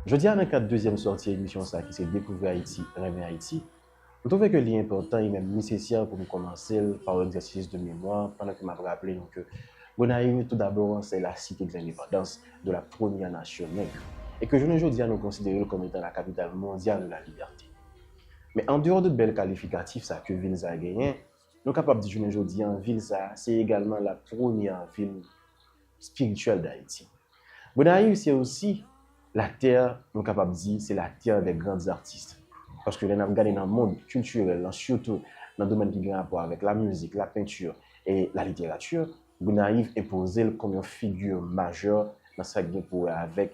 Jodi a nan kad dezyèm sòti emisyon sa ki se Dekouvri Ayiti, Renmen Ayiti, m twouve ke li enpòtan e menm nesesè pou m kòmanse l pa yon egzèsis de memwa pandan ke m ap raple nou ke Gonayiv tou dabò se la Cité de l'Indépendance de la Première Nation Nègre e ke jounen jodi a nou konsidere l kòm etan la Capitale Mondiale de la Liberté. Men andeyò de bèl kalifikatif sa ke vil sa genyen, nou kapab di jounen jodi a vil sa se egalman la premyè vil spirituel d'Haïti. Gonaïves c'est aussi la terre nou kapab di c'est la terre des grandes artistes paske lè nap gade nan monde culturel lan surtout nan domèn ki gen rapò avèk la musique, la peinture et la littérature Gonaïves enpozel kòm yon figure majeure nan sak gen pou wè avèk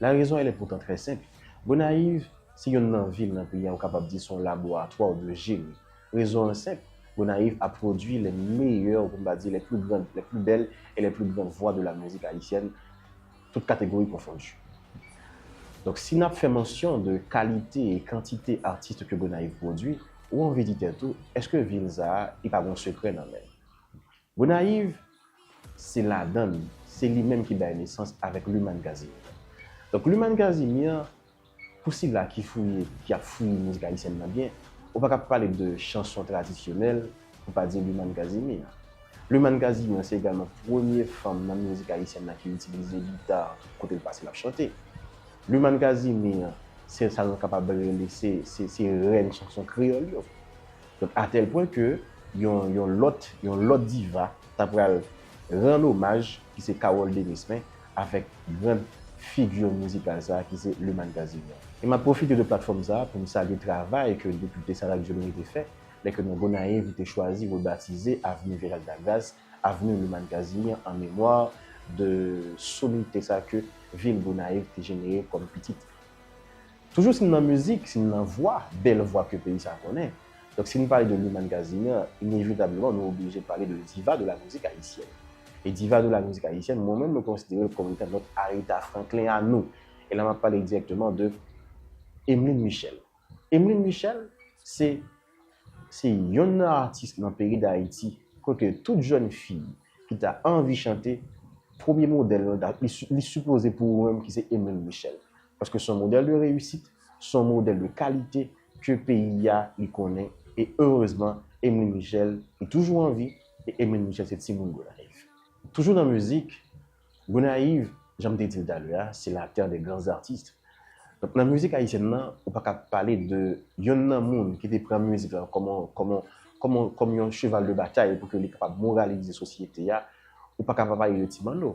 La raison elle est pourtant très simple. Gonayiv se yonn nan vil nan peyi a ou kapab di se yon laboratwa ou byen jeni. Rezon an senp, Gonayiv a pwodwi les meilleurs, pou m pa di les plus grandes, les plus belles et les plus grandes voix de la musique haïtienne, toutes catégories confondues. Donk si n ap fè mansyon de kalite e kantite artistes ke Gonayiv pwodwi, ou anvi di tèt ou, èske vil sa a li pa gen yon sekrè nan men l? Gonayiv se ladan l, se li menm ki bay nesans avèk Lumane Casimir. Donk Lumane Casimir, pou sila ki fouye, ki ap fouye mizik ayisyèn nan byen, ou pa ka pa pale de chanson tradisyonèl pou pa di Lumane Casimir. Lumane Casimir se egalman premye fanm nan mizik ayisyèn nan ki itilize gita kote l pase l ap chante. Lumane Casimir se sa nou kapab rele se rèn chanson kreyòl yo. Donk a tèl pwen ke yon yon lòt yon lòt diva ta pral rann omaj ki se Carole Denispen avèk grand figure mizikal sa ki se Lumane Casimir. E map pwofite de platfòm sa pou m salye travay ke Depite Sarat Joly te fè lè ke nan Gonayiv li te chwazi rebatize Avenue Gerald Lagras Avenue Lumane Casimir an memwa de soumite sa ke vil Gonayiv te jenere kòm pitit Toujou si n nan mizik, si n nan vwa, bèl vwa ke peyi sa konnen. Donk si n pale de Lumane Casimir, inevitableman nou oblije pale de diva de la mizik ayisyèn. E diva de la mizik ayisyèn, mwen menm mwen konsidere l kòm etan nòt Aretha Franklin a nou. E la m ap pale dirèkteman de Emeline Michel. Emeline Michel se se yonn nan atis nan peyi Dayiti kote tout jèn fi ki ta anvi chante, premye modèl l, li sipoze pou ou menm ki se Emeline Michel. Paske son modèl de reyisit, son modèl de kalite ke peyi a li konnen e erezman Emeline Michel li toujou an vi e Emeline Michel se timoun Gonayiv. Toujou nan mizik, Gonayiv jan m te di l talè a se la terre des grands artistes. Donk nan mizik ayisyèn nan ou pa ka pale de yonn nan moun ki te pran mizik lan kòm yon kòm yon kòm yon kòm yon cheval de batay pou ke li kapab moralize sosyete a ou pa ka pa pale de Ti Manno.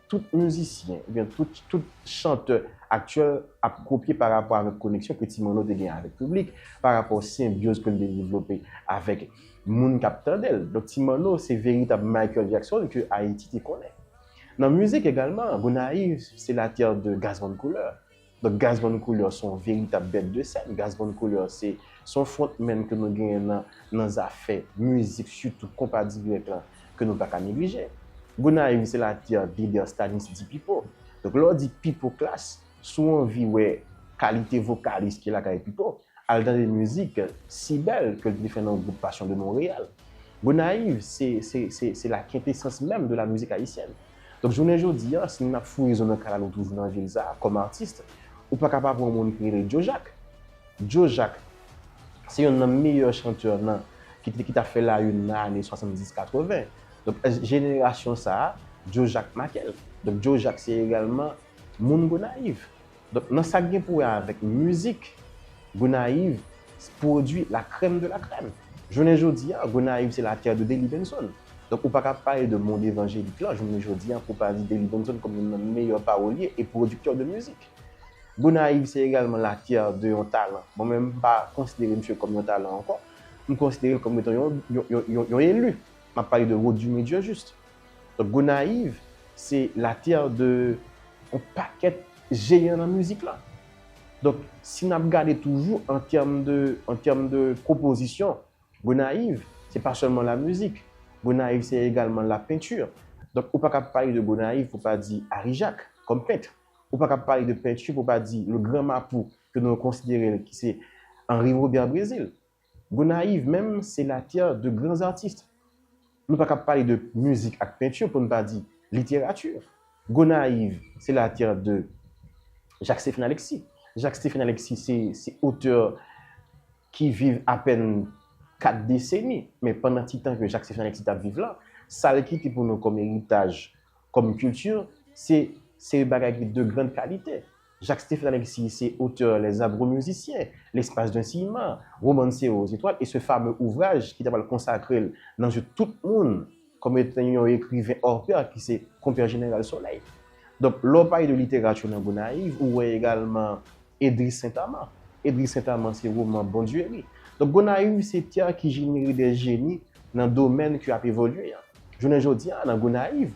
Tout mizisyen ou byen tout tout chantè aktyèl ap kopye pa rapò avèk koneksyon ke Ti Manno te gen avèk piblik, pa rapò senbyoz ke li te devlope avèk moun k ap tande l. Donk Ti Manno se veritab Michael Jackson ke Ayiti te konnen. Nan mizik egalman, Gonayiv se la terre de Gazzman Couleur. Donk Gaz Von Couleur se yon veritab bèt de sèn. Gaz Von Couleur se yon front man ke nou genyen nan zafè mizik sitou konpa dirèk la ke nou pa ka neglije. Gonayiv se la terre de Derstanis Di Pipo. Donk lè w di Pipo Klass, si w anvi wè kalite vokalis ki lakay Pipo, al tande mizik Si Bèl ke l te fè nan gwoup Passion de Montréal. Gonayiv se la quintessence même de la musique haïtienne. Donk jounen jodi a, si nou ap fouye zo nan kay la nou toujou nan vil sa a, kòm artiste, ou pa ka pa pran yon moun ki rele Djo Jak. Djo Jak, se yonn nan meyè chanteur nan, ki te, ki ta fè la une nan ane 70, 80. Donk èske jenerasyon sa a, Djo Jak make l? Donk Djo Jak se egalman moun Gonayiv. Donk nan sak gen pou wè avèk mizik, Gonayiv pwodwi la krèm de la krèm. Jounen jodi a, Gonayiv se la terre de Delly Benson. Donk ou pa ka pale de mond evanjelik lan jounen jodi a pou w pa di Delly Benson kòm youn nan meyè pawolye e pwodiktè de mizik. Gonayiv se egalman la terre de yon talan. Mwen menm m pa konsidere misye kòm yon talan ankò. M konsidere l kòm etan yon elu. M ap pale de Rodumy Dieujuste. Donk Gonayiv se la terre de yon pakèt jeyan nan mizik la. Donk si nap gade toujou an tèm de an tèm de pwopozisyon, Gonayiv se pa sèlman la mizik, Gonayiv se egalman la peinture. Donk ou pa kab pale de Gonayiv pou pa di Ari Jak kòm pent. Ou pa kab pale de peinture pou pa di le grand Mapou ke nou konsidere l ki se Henri Robert Brésil. Gonayiv menm se la tè de gran artist. Nou pa kab pale de mizik ak pentu pou n pa di literatu. Gonayiv se la tè de Jacques Stephen Alexis. Jacques Stephen Alexis se otè ki viv apèn 4 deseni. Men pandan ti tan ke Jacques Stephen Alexis t ap viv la, sa l kite pou nou kòm eritaj, kòm kilti, se yon bagay ki de grand kalite. Jacques Stephen Alexis se otè Les Amoureux Musiciens, L'espace d'un ciment, Romancer aux étoiles e se fame ouvraj ki ta pral konsakre l nan je tout moun kòm etan yon ekriven hors pair ki se Konpè Jeneral Solèy. Donk, lè w pale de literati nan Gonayiv, ou wè egalman Edris Sentaman. Edris Sentaman se roman Bondueri. Donk, Gonayiv se tè ki jenere dè jeni nan domèn ki ap evolye an. Jounen jodi a, nan Gonayiv,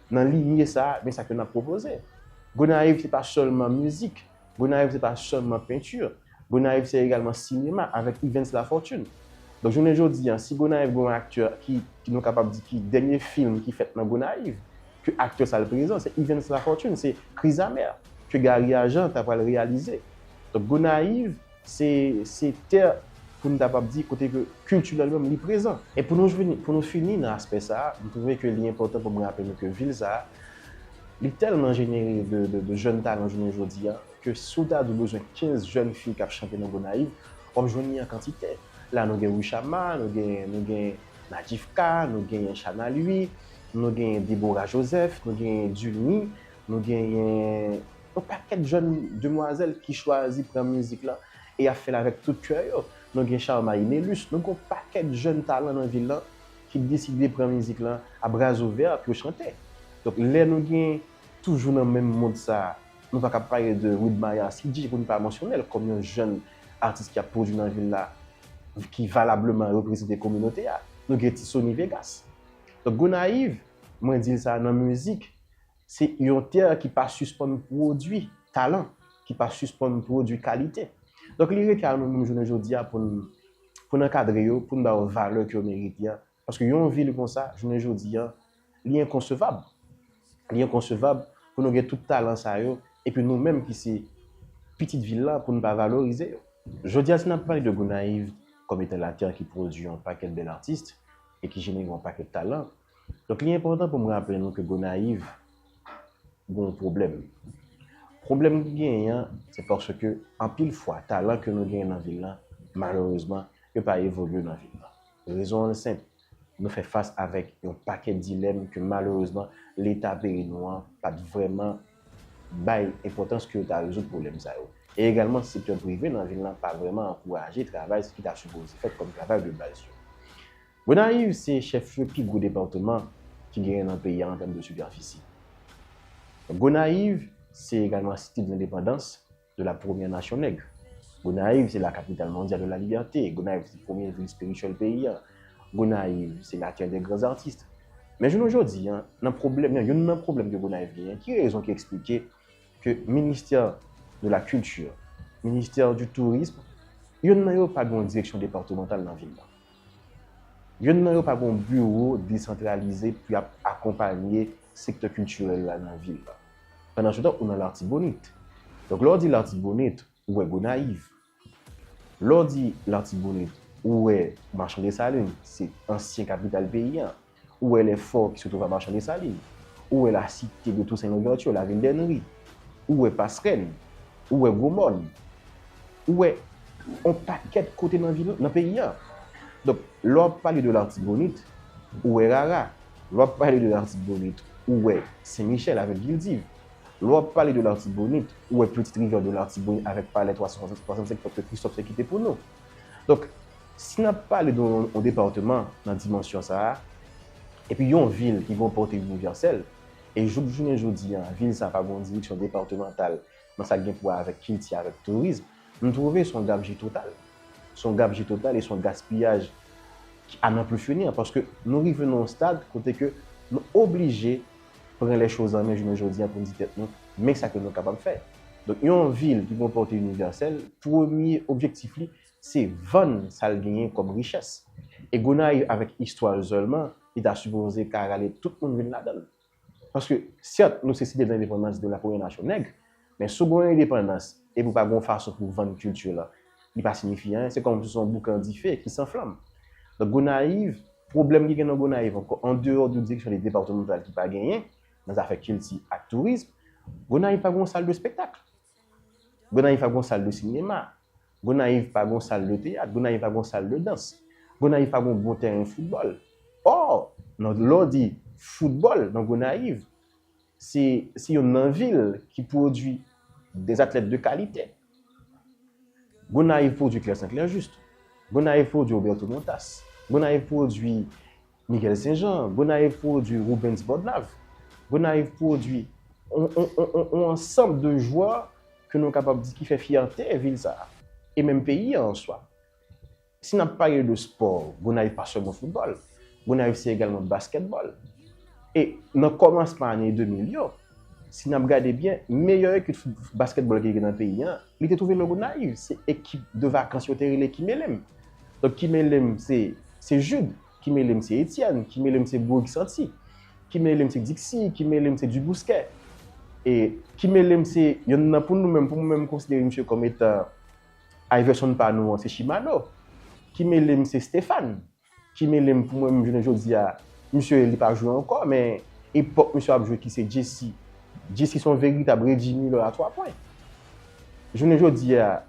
Nan linye sa a, men sa ke n ap pwopoze. Gonayiv se pa sèlman mizik, Gonayiv se pa sèlman penti, Gonayiv se egalman sinema avèk Yvens Lafortune. Donk jounen jodi a, si Gonayiv gen yon aktè ki nou kapab di ki dènye fim ki fèt nan Gonayiv, ke aktè sa l prezan, se Yvens Lafortune, se Krizamè ke Gary Ajan ta pral reyalize. Donk Gonayiv Se sektè pou nou kapab di kote ke kiltirèl menm li prezan. E pou nou jwenn, pou nou fini nan aspè sa a, m twouve ke li enpòtan pou m raple nou ke vil sa a, li tèlman jenere de jèn talan jounen jodi a, ke si w ta di w bezwen 15 jèn fi k ap chante nan Gonayiv, w ap jwenn li an kantite. La nou gen Wishama, nou gen, nou gen Nadjifka, nou genyen Shana Louis, nou genyen Deborah Joseph, nou genyen Dulny, nou genyen. Yon pakèt jèn demwazèl ki chwazi pran mizik lan e y ap fè l avèk tout kè yo. Nou gen Charmaï Nélus, nou gen yon pakèt jèn talan nan vil lan ki deside pran mizik lan a bras ouverts pou yo chante. Donk lè nou gen toujou nan menm mond sa a, nou pa kab pale de Widmaya Sidji pou n pa mansyone l kòm yon jèn atis ki ap pwodui nan vil la, ki valableman reprezante kominote a. Nou gen ti Sony Vegas. Donk Gonayiv, mwen di l sa nan mizik, Se yon tè ki pa sispann pwodui talan, ki pa sispann pwodui kalite. Donk li rete a nou menm jounen jodi a pou n ankadre yo, pou n ba yo valè ke yo merite a. Paske yon vil konsa, jounen jodi a, li enkonsevab. Li enkonsevab pou nou gen tout talan sa yo, epi nou menm ki se pitit vil la pou n pa valorize yo. Jodi a si n ap pale de Gonayiv kòm etan latè ki pwodui yon pakèt bèl atis e ki jenere yon pakèt talan, Donk li enpòtan pou m raple nou ke Gonayiv gen yon pwoblèm. Pwoblèm ki genyen an, se paske anpil fwa talan ke nou genyen nan vil lan, malerezman, yo pa evolye nan vil lan. Rezon an senp, nou fè fas avèk yon pakèt dilèm ke malerezman Leta peyi nou an pa t vrèman bay enpòtans ke yo ta rezoud pwoblèm sa yo. E egalman sektè prive nan vil lan pa vrèman ankouraje travay ki ta sipoze fèt kòm travay de baz yo. Gonayiv se chèflye pi gwo depatman ki genyen nan peyi a an tèm de sipèfisi. Gonayiv se egalman Site de l'Indépendance de la première nation nègre. Gonayiv se la capitale mondiale de la liberté. Gonayiv se premye vil espirityèl peyi a. Gonayiv se la terre des grands artistes. Men jounen jodi a, nan pwoblèm, nan youn nan pwoblèm ke Gonayiv genyen, ki rezon ki eksplike ke ministè de la culture, ministè du tourisme, youn nan yo pa gen yon direksyon depatmantal nan vil la? Youn nan yo pa gen yon biwo desantralize pou y ap akonpanye sektè kiltirèl la nan vil la. Pandansetan, ou nan Latibonit. Donk, lè w di Latibonit, ou wè Gonayiv. Lè w di Latibonit, ou wè Machan Desalin, se ansyen kapital peyi an. Ou wè lè fò ki se twouve a Machan Desalin. Ou wè la site de Tousen Louvèti, la vil dè Nri. Ou wè Pasrèl. Ou wè Gwo Mòn. Ou wè on pakèt kote nan vil, nan peyi a. Donk, lè w ap pale de Lartibonit, ou wè Rara. Lè w ap pale de Lartibonit, ou wè Sen Michèl avèk Vildiv. Lè w ap pale de Lartibonit, ou wè Petite Rivière de Lartibonit avèk Palè 365 pòt ke Kristòf te kite pou nou. Donk, si n ap pale de yon departeman nan dimansyon sa a, epi yon vil ki gen yon pòte inivèsèl, e jouk jounen jodi a, vil sa a pa gen yon direksyon departemantal nan sa k gen pou wè avèk kilti, avèk tourism, m twouve se yon gabji total. Se yon gabji total e se yon gaspiyaj ki a nan pu fini an, paske nou rive nan yon stad kote ke nou oblije pran les choses en main jounen jodi a pou n di tèt nou men sa ke nou kapab fè. Donk yon vil ki gen yon pòte inivèsèl, premye objektif li se vann sa l genyen kòm richès. E Gonayiv avèk istwa l sèlman, li ta sipoze ka rale tout moun vin ladan l. Paske sèt nou se site de lendepandans de la premyè nasyon nèg, Men si w gen yon endepandans epi w pa gen yon fason pou w vann kilti w lan, li pa siyifi anyen. Se kòmsi se yon boukan dife ki san flanm. Donk Gonayiv, pwoblèm ki gen nan Gonayiv ankò, an deyò de direksyon depatmantal ki pa genyen nan zafè kilti ak tourism, Gonayiv pa gen yon sal de spektak. Gonayiv pa gen yon sal de sinema. Gonayiv pa gen yon sal de teyat. Gonayiv pa gen yon sal de dans. Gonayiv pa gen yon bon tèren foutbòl. Ò, lè w di foutbòl nan Gonayiv, se yon nan vil ki pwodwi des atlèt de kalite. Gonayiv pwodwi Claire Saint-Clair Juste. Gonayiv pwodwi Roberto Montas. Gonayiv pwodwi Miguel Saint Jean. Gonayiv pwodwi Rubens Bodnave. Gonayiv pwodwi yon ansanm de jwè ke nou kapab di ki fè fyète vil sa a. E menm peyi an an swa. Si nap pale de spò, Gonayiv pa sèlman foutbòl. Gonayiv se egalman baskètbòl. E nan kòmansman ane 2000 yo, si nap gade byen, meyè ekip baskètbòl ki te gen nan peyi an, li te twouve nan Gonayiv. Se ekip de vakans yo te rele Kimelem. Donk Kimelem se Jude, Kimelem se Etienne, Kimelem se Bourg Santi, Kimelem se Dixi, Kimelem se Dubousquet. E Kimelem se yonn nan pou nou menm, pou mwen menm m konsidere misye kòm etan Iverson pa nou an se Shimano ki melem se Stephane ki melem pou mwen menm jounen jodia misye li pa jwe ankò men epòk misye ap jwe ki se Jessy Jessy son veritab Reggie Miller a 3 pwen jounen jodia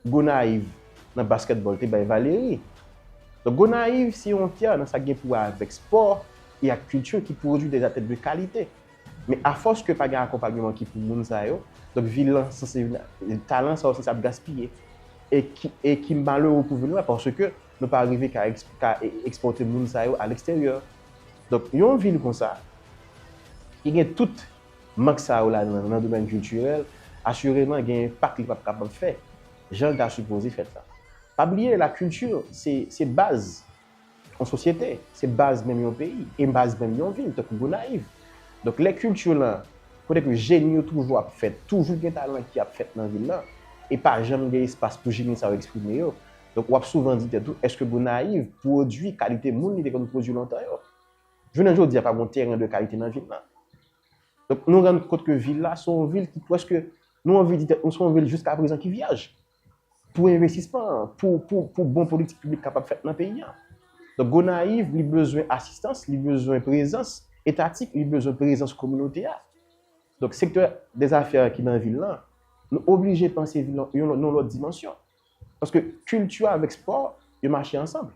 Gonayiv nan basketball te bay Valery donk Gonayiv se yon tè nan sa gen pou wè avèk spò e ak kilti ki pwodwi dè atèt de kalite. Men afòs ke pa gen akonpagneman ki pou moun sa yo, donk vi lan se se youn talan sa yo se sa ap gaspiye. E ki e ki malere pou vin wè paske nou pa rive ka eks ka ekspòte moun sa yo a leksteryè. Donk yon vil konsa ki gen tout mank sa yo ladan l nan domèn kiltirèl asireman gen enpak li p ap kapab fè jan l ta sipoze fèt la. Pa bliye la kilti se se baz Yon sosyete, se baz menm yon peyi, e baz menm yon vil, tankou Gonayiv. Donk lè kilti lan, kote ke jeni yo toujou ap fèt, toujou gen talan ki ap fèt nan vil lan, e pa janm gen espas pou jeni sa yo eksprime yo. Donk w ap souvan di tèt ou, èske Gonayiv pwodui kalite moun li te konn pwodui lontan yo? Jounen jodi a pa gen yon teren de kalite nan vil lan. Donk nou rann kont ke vil la se yon vil ki pwèske nou anvi di tèt nou se yon vil jiska prezan ki vyèj. pou envestisman, pou bon politik piblik kapab fèt nan peyi a. Donk Gonayiv li bezwen asistans, li bezwen prezans etatik, li bezwen prezans kominote a. Donk sektè dezafè a ki nan vil lan, nou oblije panse vil lan nan yon lòt dimansyon. Paske kilti avèk spò, yo mache ansanm.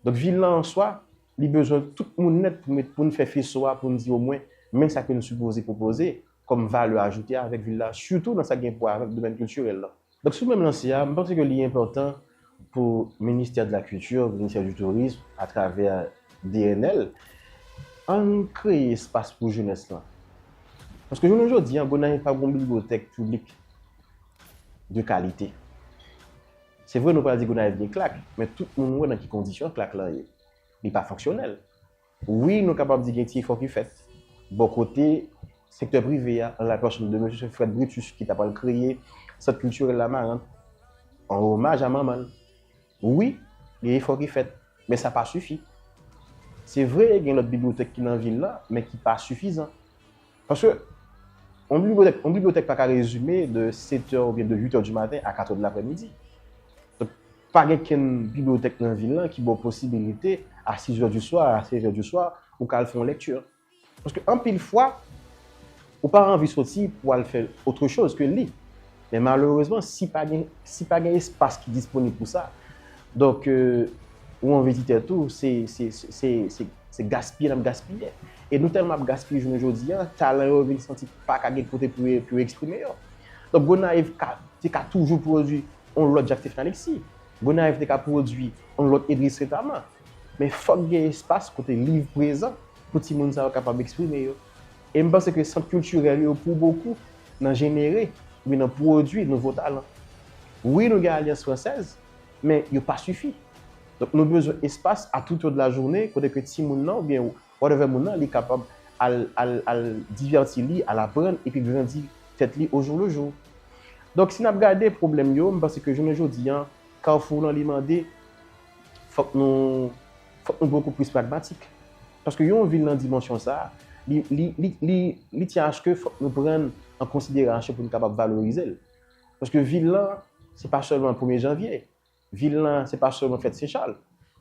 Donk vil lan an swa, li bezwen tout moun nèt pou met pou n fè feso a pou n di omwen men sa ke n sipoze pwopoze kòm valè ajoute avèk vil la sitou nan sa ki gen pou wè avèk domèn kiltirèl lan. Donk sou menm lanse a, m panse ke li enpòtan pou ministè de la kilti, ministè du tourisme atravè DNL, an n kreye espas pou jenès lan. Paske jounen jodi a Gonayiv pa gen yon bibliyotèk piblik de kalite. Se vre nou pral di Gonayiv gen klak, men tout moun wè nan ki kondisyon klak lan ye. Li pa fonksyonèl. Wi nou kapab di gen ti efò ki fèt bò kote sektè prive a, an la pèsonn de mesye Fred Brutus ki ta pral kreye Sant Kiltirèl Lamarant an omaj a manman l. Wi, gen efò ki fèt, men sa pa sifi. Se vre gen lòt bibliyotèk ki nan vil la, men ki pa sifizan. Paske, yon bibliyotèk, yon bibliyotèk pa ka rezime de setè oubyen de uitè di maten a katrè di laprèmidi. Donk, pa gen kenn bibliyotèk nan vil lan ki ba w posibilite a sizè di swa, a sevyè di swa, ou ka al fè yon lèkti. Paske anpil fwa, ou pa anvi soti pou al fè otre choz ke li. Men malerezman, si pa gen si pa gen espas ki disponib pou sa, donk ou an vizitè tou, se se se se se gaspiye n ap gaspiye. E nou tèlman ap gaspiye jounen jodi a, talan yo vin santi pa ka gen kote pou yo pou yo eksprime yo. Donk Gonayiv ka te ka toujou pwodui on lòt Jacques Stephen Alexis. Gonayiv te ka pwodui on lòt Edris Retaman. Men fòk gen espas kote liv prezan pou timoun sa yo kapab eksprime yo. E m panse ke sant kiltirèl yo pou bokou nan jenere oubyen nan pwodui nouvo talan. Wi nou gen alyans fransèz, men yo pa sifi. Donk nou bezwen espas a tout o de la journe kote ke timoun nan oubyen whatever moun nan li kapab al al al divèti li, al aprann epi grandi tèt li o jou le jou. Donk si n ap gade pwoblèm yo, m panse ke jounen jodi an Carrefour lan li mande fòk nou Fòk nou poko plis pragmatik. Paske yon vil nan dimansyon sa a, li, li, li, li, li tyen aske fòk nou pran l an konsiderasyon pou nou kapab valorize l. Paske vil lan, se pa sèlman premye janvye. Vil lan, se pa sèlman fèt Sen Chal.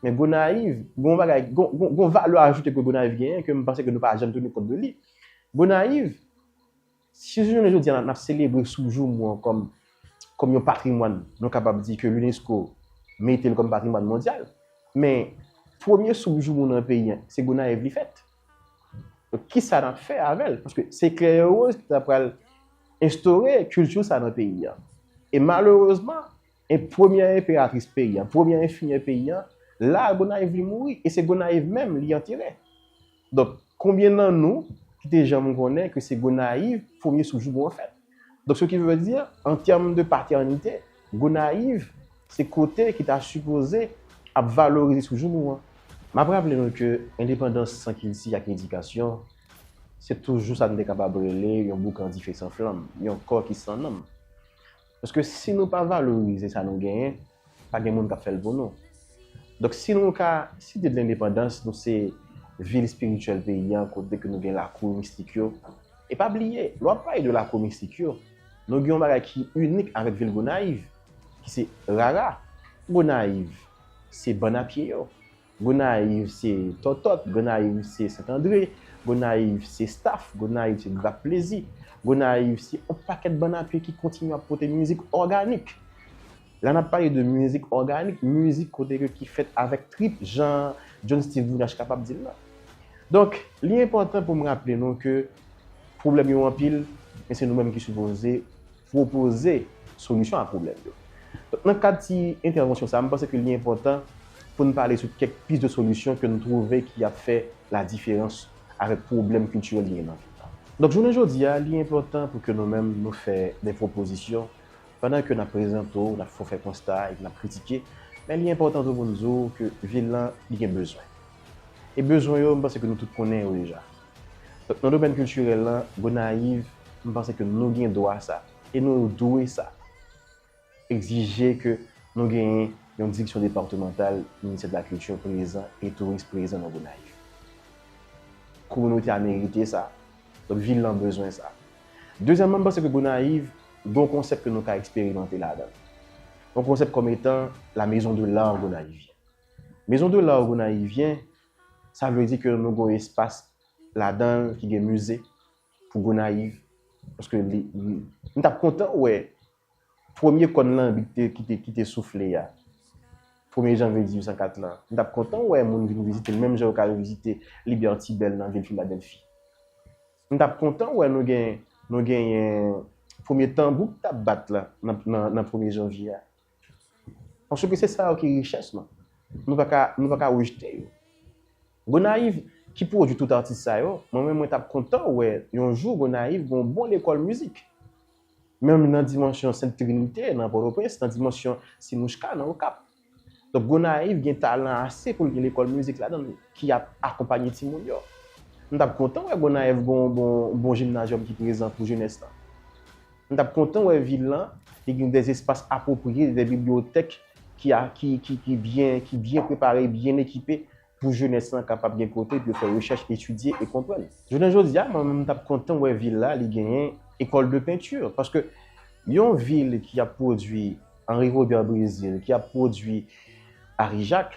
Men Gonayiv, gen yon bagay, gen yon, gen yon valè ajoute ke Gonayiv genyen ke m panse ke nou pa janm tounen kont de li. Gonayiv. Si jounen jodi a n ap selebre Soujoum ou an kòm kòm yon patrimwàn nou kapab di ke Unesco mete l kòm patrimwàn mondyal, men premye Soujoum ou nan peyi an se Gonayiv li fèt. Donk kisa n ap fè avè l? Paske se Klèyerwoz ki ta pral enstore kilti sa nan peyi an. E malerezman. E premyè enperatris peyi an, premyè enfimyè peyi an, la a Gonayiv li mouri, e se Gonayiv menm li antere. Donk, konbyen nan nou ki te janm konnen ke se Gonayiv premye sou jouk mwen fèt? Donk, se ki vle di, an tèm de patènite, Gonayiv se kote ki ta sipoze ap valorize sou jouk mwen. M ap raple nou ke endepandans san kilti ak edikasyon, se toujou sa nou te kapab rele yon boukan dife san flanm, yon kò ki san nanm. Paske si nou pa valorize sa nou genyen, pa gen moun k ap fè l pou nou. Donk si nou ka Site de Lendepandans, nou se vil espirityèl peyi an kote ke nou gen lakou mistik yo. E pa bliye, lè w ap pale de lakou mistik yo, nou gen yon bagay ki inik avèk vil Gonayiv ki se rara. Gonayiv se bann a pye yo. Gonayiv se tòtòt, Gonayiv se Sentandre, Gonayiv se staf, Gonayiv se grap plezi, Gonayiv se yon pakèt bann a pye ki kontinye ap pote mizik òganik. La n ap pale de mizik òganik, mizik kote ke ki fèt avèk trip jan John Steeve Brunache kapab di l la. Donk, li enpòtan pou m raple nou ke pwoblèm yo anpil men se nou menm ki sipoze pwopoze solisyon a pwoblèm yo. Donk nan kad ti entèvansyon sa a, m panse ke li enpòtan pou n pale sou kèk pis de solisyon ke n twouve ki ap fè ladiferans avèk pwoblèm kiltirèl ki gen nan vil la. Donk jounen jodi a, li enpòtan pou ke nou menm nou fè de pwopozisyon pandan ke n ap prezante w, n ap fè w fè konsta epi n ap kritike, men li enpòtan tou pou n di w ke vil lan li gen bezwen. E bezwen yo, m panse ke nou tout konnen yo deja. Donk nan domèn kiltirèl lan, Gonayiv, m panse ke nou gen dwa sa e nou dwe sa, egzije ke nou genyen yon direksyon departemantal Ministè de la Culture prezan e touris prezan nan Gonayiv. Kominote a merite sa, donk vil lan bezwen sa. Dezyèmman, m panse ke Gonayiv gen yon konsèp ke nou ka eksperimante ladan l. Yon konsèp kòm etan la maison de l'art gonayivyen. Maison de l'art gonayivyen Sa vle di ke nou gen yon espas ladan l ki gen mize pou Gonayiv. Paske li, m t ap kontan wè premye kòn lanbi ki te, ki te, ki te soufle a, premye janvye 1804 lan, m t ap kontan wè moun vin vizite l menm jan yo ka al vizite Liberty Bell nan vil Filadèlfi. M t ap kontan wè nou gen, nou genyen premye tanbou ki t ap bat la nan, nan premye janvye a. Paske se sa yo ki richès nou. Nou pa ka, nou pa ka rejte yo. Gonayiv ki pwodwi tout atis sa yo, mwen menm mwen t ap kontan wè yon jou Gonayiv gen yon bon lekòl mizik. Menm nan dimansyon Sent Trinite nan Pòtoprens, nan dimansyon Simouchka nan Okap. Donk Gonayiv gen talan ase pou l gen lekòl mizik ladan l ki ap akonpanye timoun yo. M t ap kontan wè Gonayiv gen yon bon jimnazyòm ki prezan pou jenès lan. M t ap kontan wè vil lan te gen de espas apwopriye, de bibliyotèk ki byen prepare, byen ekipe pou jenès lan kapab gen kote pou yo fè rechèch, etidye e konprann. Jounen jodi a, mwen menm m t ap kontan wè vil la li genyen Ecole de peinture paske yon vil ki ap pwodui Henri Robert Brésil, ki ap pwodui Henri Jacques,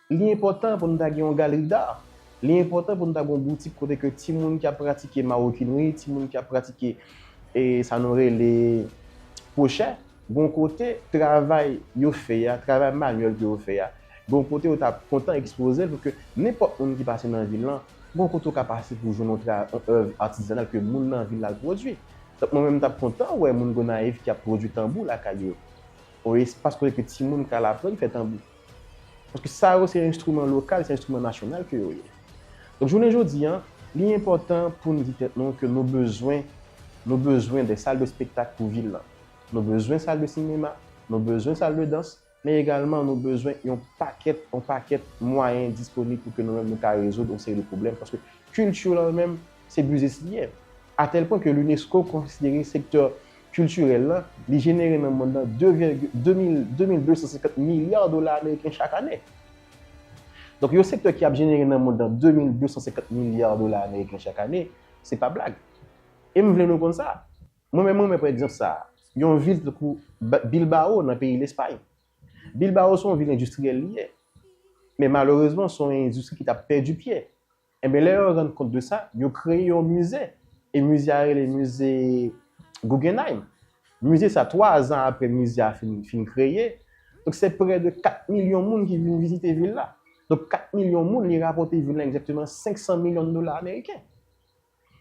Li enpòtan pou nou ta gen yon galerie d'art. Li enpòtan pou nou ta gen yon boutik kote ke timoun ki ap pratike marokinri, timoun ki ap pratike sa nou rele kwochè, gon kote travay yo fè a, travay manyèl ke yo fè a, gon kote yo ta kontan ekspoze l pou ke nenpòt moun ki pase nan vil lan, gon kote ou ka pase pou jwenn yon èv atizanal ke moun nan vil la pwodui. Donk mwen menm m ta kontan wè moun Gonayiv ki ap pwodui tanbou lakay yo. Yon espas kote ke timoun ka al aprann fè tanbou. Paske sa yo se enstriman lokal, se enstriman nasyonal ke yo ye. Donk jounen jodi a, li enpòtan pou nou di tèt nou ke nou bezwen, nou bezwen de sal de spektak pou vil lan. Nou bezwen sal de sinema, nou bezwen sal de dans, men egalman nou bezwen yon pakèt, yon pakèt mwayen disponib pou ke nou menm nou ka rezoud yon seri de pwoblèm paske kilti lan menm se biznis li ye. a tèl pwen ke l'UNESCO konsidere sektè kiltirèl lan, li jenere nan mond lan 2 vègil 2 mil 2250 milya dola ameriken chak ane. Donk yon sektè ki ap jenere nan mond lan 2250 milya dola ameriken chak ane, se pa blag. E m vle nou konn sa. Mwen menm renmen pran egzanp sa a, yon vil tankou Bilbao nan peyi Lespay. Bilbao se yon vil endistriyèl li ye. Men malerezman se yon endistri ki t ap pèdi pye. Enben lè yo rann kont de sa, yo kreye yon mize, e mize a rele mize Guggenheim. Mize sa, 3 zan apre mize a fin fin kreye, donk se prè de 4 milyon moun ki vin vizite vil la. Donk 4 milyon moun li rapòte vil la egzakteman 500 milyon dola ameriken.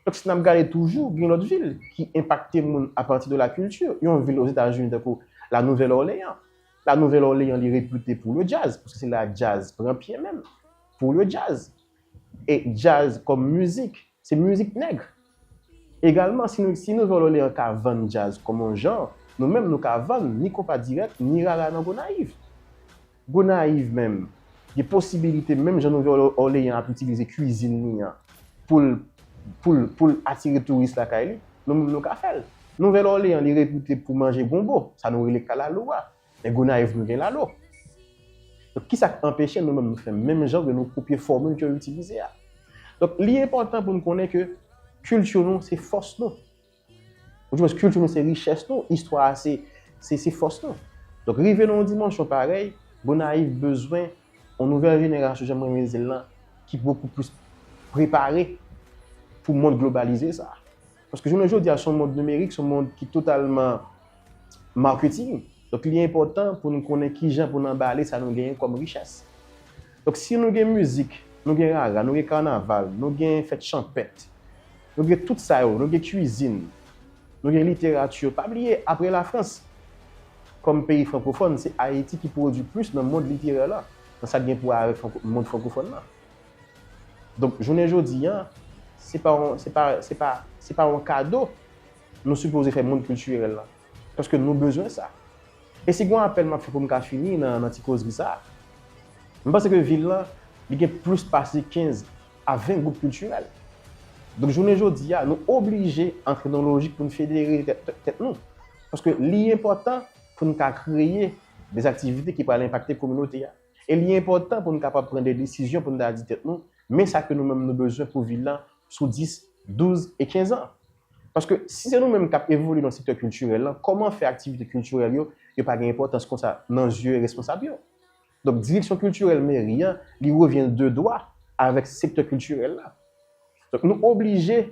Donk si n ap gade toujou, gen lòt vil ki enpakte moun apati de la kilti. Yon vil ozetazini tankou La Nouvèl Òleyan. La Nouvèl Òleyan li repite pou le djaz, paske se la djaz pran pye menm. Pou le djaz. E djaz kòm mizik, se mizik nèg. Egalman, si nou si Nouvèl Òleyan ka vann djaz kòm yon jan, nou menm nou ka vann ni konpa dirèk, ni rara nan Gonayiv. Gonayiv menm, gen posibilite menm jan Nouvèl Òleyan ap itilize kwizin li an pou l pou l pou l atire touris lakay li, nou menm nou ka fè l. Nouvèl Òleyan li repite pou manje gonbo, sa nou rele kalalou a, men Gonayiv nou gen lalo. Donk kisa k anpeche nou menm nou fè menm jan oubyen nou kopye fòmil ke yo itilize a? Donk li enpòtan pou n konnen ke kilti nou se fòs nou. Ou di mwen kilti nou se richès nou, istwa a se fòs nou. Donk rive nan yon dimansyon parèy, Gonayiv bezwen yon nouvèl jenerasyon, jan mwen renmen di l lan, ki bokou plis prepare pou mond globalize sa a. Paske jounen jodi a se yon mond nimerik, se yon mond ki totalman marketing. Donk li enpòtan pou nou konnen ki jan pou nou anbale sa nou genyen kòm richès. Donk si nou gen mizik, nou gen rara, nou gen kanaval, nou gen fèt chanpèt, Nou gen tout sa yo, nou gen kwizin, nou gen literati. Pa bliye, apre Lafrans, kòm peyi frankofòn, se Ayiti ki pwodui plis nan mond literè la, nan sa k gen pou wè avèk mond frankofòn la. Donk, jounen jodi a, se pa yon kado nou sipoze fè mond kiltirèl la. Paske nou bezwen sa. E si gen yon apèl map fè pou m ka fini nan ti kozri sa. M panse ke vil lan li gen plis pase 15 a 20 gwoup kiltirèl. Donk jounen jodi a nou oblije antre nan yon lojik pou n federe tèt nou. Paske li enpòtan pou n ka kreye de aktivite ki pral enpakte kominote a. E li enpòtan pou n kapab pran de desizyon pou n ta di tèt nou men sa ke nou menm nou bezwen pou vil lan sou 10, 12 e 15 an. Paske si se nou menm k ap evolye nan sektè kiltirèl lan, kòman fè aktivite kiltirèl yo, yo pa gen enpòtans konsa nan zye responsab yo? Donk direksyon kiltirèl meri an, li revyen l de dwa avèk sektè kiltirèl la. Donk nou oblije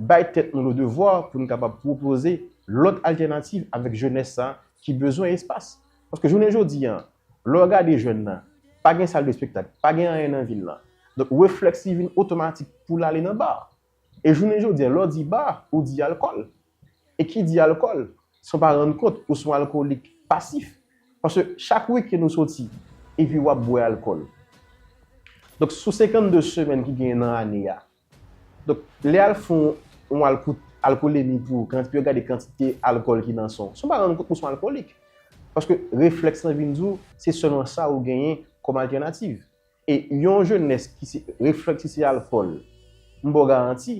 bay tèt nou le devwa pou nou kapab pwopoze lòt altènativ avèk jenès sa ki bezwen espas. Paske jounen jodi a, lè w gade jèn nan, pa gen sal de spektak, pa gen anyen nan vil lan. Donk reflèks li vin otomatik pou l ale nan bar. E jounen jodi a, lè w di bar, ou di alkòl. E ki di alkòl, san w pa rann kont, ou se yon alkolik pasif. Paske chak wikenn ou soti, epi w ap bwè alkòl. Donk sou 52 semèn ki genyen nan ane a, donk lè y al fè yon alkout, alkolemi pou yo, pou yo gade kantite alkòl ki nan san w, san w pa rann kont ou se yon alkolik. Paske reflèks lan vin di w, se sèlman sa ou genyen kòm altènativ. E yon jenès ki se refleksiyal fòl, m ba w garanti,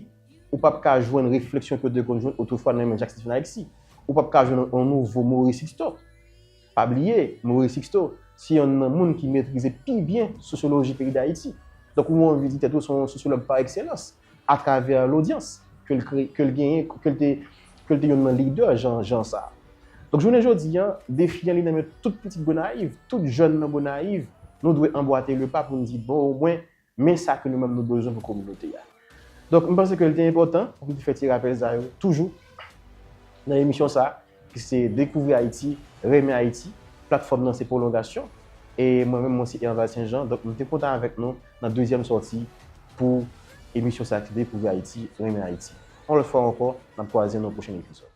ou pap ka jwenn refleksyon ke w te konn jwenn otrefwa nan men Jak Sixto Alèksi. Ou pap ka jwenn yon nouvo Mori Siksto. Pa bliye, Mori Siksto, se yonn nan moun ki metrize pi byen sosyoloji peyi Dayiti. Donk ou anvi di tèt ou se yon sosyològ pa ekselans. atravè lodyans ke l kreye, ke l genyen, ke l te, ke l te youn nan lidè jan, jan sa a. Donk jounen jodi a, defi an li nan men tout pitit Gonayiv, tout jèn nan Gonayiv, nou dwe anbwate le pa pou n di bon omwen men sa ke nou menm nou bezwen pou kominote a. Donk m panse ke l te enpòtan pou m te fè ti rapèl sa yo toujou nan emisyon sa a. Ki se Dekouvri Ayiti, Renmen Ayiti. Platfòm nan se pwolongasyon. E mwen menm mwen se Erval St. Jean. Donk m te kontan avèk nou nan dezyèm sòti pou emisyon sa ki se Dekouvri Ayiti, Renmen Ayiti. Yon lòt fwa ankò, n ap kwaze nan pwochen epizòd.